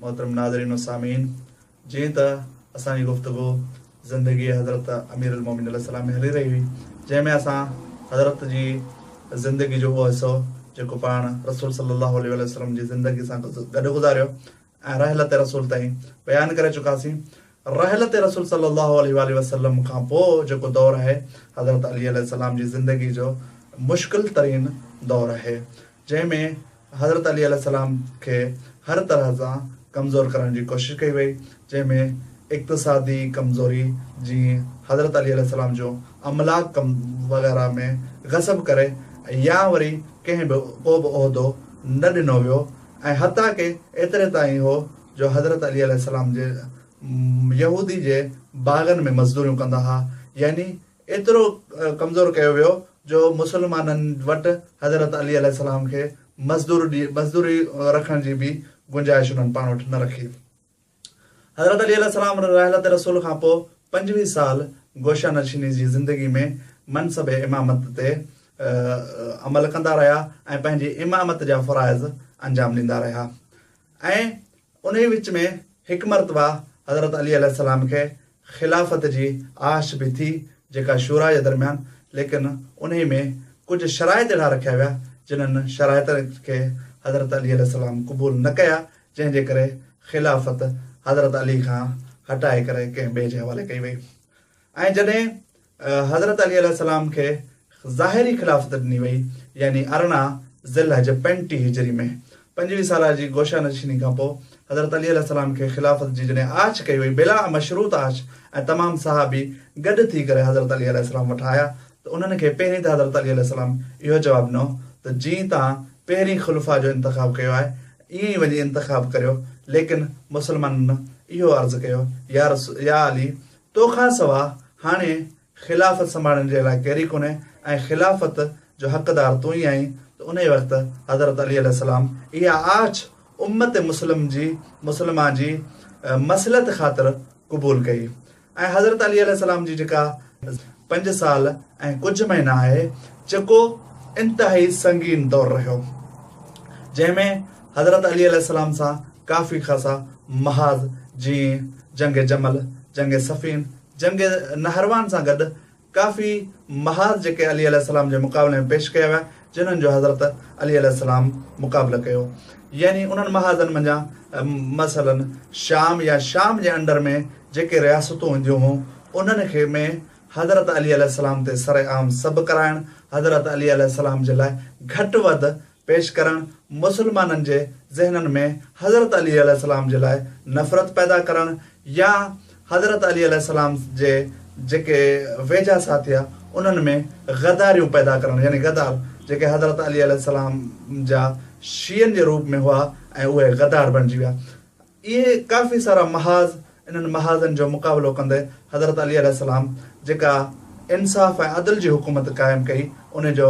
محترم ناظرين و سامعين جيئن ته اسان جي گفتگو زندگي حضرت امير المومنين عليه السلام ۾ هلي رهي هئي جنهن ۾ اسان حضرت جي زندگي جو اهو حصو جيڪو پاڻ رسول صلي الله عليه واٰله وسلم جي زندگي سان گڏ گذاريو ۽ رحلت رسول تائين بيان ڪري چڪاسين رحلت رسول صلي الله عليه واٰله وسلم کان پوء جيڪو دور آهي حضرت علي عليه السلام جي زندگي جو مشڪل ترين دور آهي جنهن ۾ حضرت علي عليه السلام کي هر طرح سان ڪمزور ڪرڻ جي ڪوشش ڪئي وئي، جنهن ۾ اقتصادي ڪمزوري جي حضرت علي عليه السلام جو املاڪ ڪم وغيره ۾ غصب ڪري يا وري ڪنهن به ڪو به عهدو نه ڏنو ويو ۽ حتيٰ ڪي ايتري تائين هو جو حضرت علي عليه السلام جي يهودي جي باغن ۾ مزدوريون ڪندا ها يعني ايترو ڪمزور ڪيو ويو جو مسلمانن وٽ حضرت علي عليه السلام کي مزدور ڏي مزدوري رکڻ جي به گنجائش انهن پاڻ وٽ نه رکي. حضرت علي عليه السلام رحلت رسول کان پوء پنجويهه سال گوشه نشيني جي زندگي ۾ منصب امامت تي عمل ڪندا رهيا ۽ پنهنجي امامت جا فرائض انجام ڏيندا رهيا ۽ انهيء وچ ۾ هڪ مرتبه حضرت علي عليه السلام کي خلافت جي آش به ٿي جيڪا شوريٰ جي درميان ليڪن انهيء ۾ ڪجهه شرائط اهڙا رکيا ويا جنهن شرائطن کي حضرت علي عليه السلام قبول نه ڪيا جنهن جي ڪري خلافت حضرت علي کان هٽائي ڪري ڪنهن ٻئي جي حوالي ڪئي وئي ۽ جڏهن حضرت علي عليه السلام کي ظاهري خلافت ڏني وئي يعني ارڙهن ذي الحج پنجٽيهه هجري ۾. پنجويهه سالهه جي گوشه نشيني کان پوء حضرت علي عليه السلام کي خلافت جي جڏهن آڇ ڪئي وئي بلا مشروط آڇ ۽ تمام صحابي گڏ ٿي ڪري حضرت علي عليه السلام وٽ آيا ته انهن کي پهرين ته حضرت علي عليه السلام اهو جواب ڏنو ته جئين تان پهرين خلفاء جو انتخاب ڪيو آهي ائين ئي وڃي انتخاب ڪريو ليڪن مسلمانن اهو عرض ڪيو يا علي تو کان سوا هاڻي خلافت سنڀالڻ جي لاء ڪيري ڪونهي ۽ خلافت جو حقدار تون ئي آهين ته انهيء وقت حضرت علي عليه السلام اها آڇ امت مسلم جي مسلمه جي مصلحت خاطر قبول ڪئي ۽ حضرت علي عليه السلام جي جيڪا پنج سال ۽ ڪجهه مهينا آهي جيڪو انتهائي سنگين دور رهيو جنهن ۾ حضرت علي عليه السلام سان ڪافي خاصا محاذ جيئن جنگ جمل، جنگ صفين، جنگ نهروان سان گڏ ڪافي محاذ جيڪي علي عليه السلام جي مقابلي ۾ پيش ڪيا ويا جنھن جو حضرت علي عليه السلام مقابلو ڪيو يعني انھن محاذن منجھان مثلا شام يا شام جي انڊر ۾ جيڪي رياستون هونديون هون انھن کي ۾ حضرت علي عليه السلام تي سرعام سب ڪرائڻ حضرت علي عليه السلام جي لاء گھٽ وڌ پيش ڪرڻ مسلمانن جي ذهنن ۾ حضرت علي عليه السلام جي لاء نفرت پيدا ڪرڻ يا حضرت علي عليه السلام جي جيڪي ويجها ساٿيا انهن ۾ غداريون پيدا ڪرڻ يعني غدار جيڪي حضرت علي عليه السلام جا شيعن جي روپ ۾ هئا ۽ اهي غدار بڻجي ويا. اهي ڪافي سارا محاذ، انهن محاذن جو مقابلو ڪندي حضرت علي عليه السلام جيڪا انصاف ۽ عدل جي حڪومت قائم ڪئي ان جو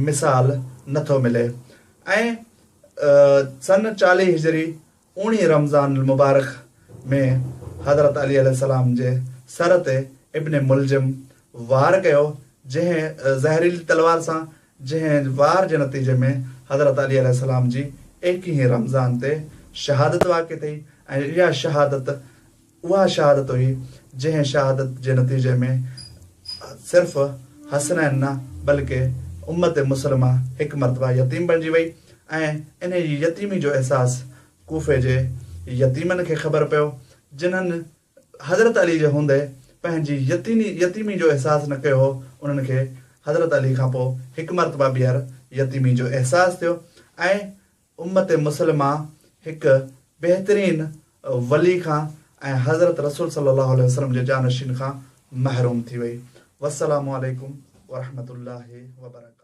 مثال نه ٿو ملي ۽ سن چاليهه هجري اوڻي رمضان المبارڪ ۾ حضرت علي عليه السلام جي سر تي ابن ملجم وار ڪيو جنهن زهريلي تلوار سان جنهن وار جي نتيجي ۾ حضرت علي عليه السلام جي ايڪيهين رمضان تي شهادت واقع ٿي ۽ اها شهادت اها شهادت هئي جنهن شهادت جي نتيجي ۾ صرف حسنين نه بلڪه امت مسلمه هڪ مرتبه يتيم بڻجي وئي ۽ انهيء يتيمي جو احساس ڪوفي جي يتيمن کي خبر پيو جنهن حضرت علي جي هوندي پنهنجي يتيني يتيمي جو احساس نه ڪيو هو، انهن کي حضرت علي کان پوء هڪ مرتبه ٻيهر يتيمي جو احساس ٿيو ۽ امت مسلمه هڪ بهترين ولي کان ۽ حضرت رسول صلي الله عليه وسلم جي جانشين کان محروم ٿي وئي. والسلام عليڪم ورحمة الله وبرڪاته.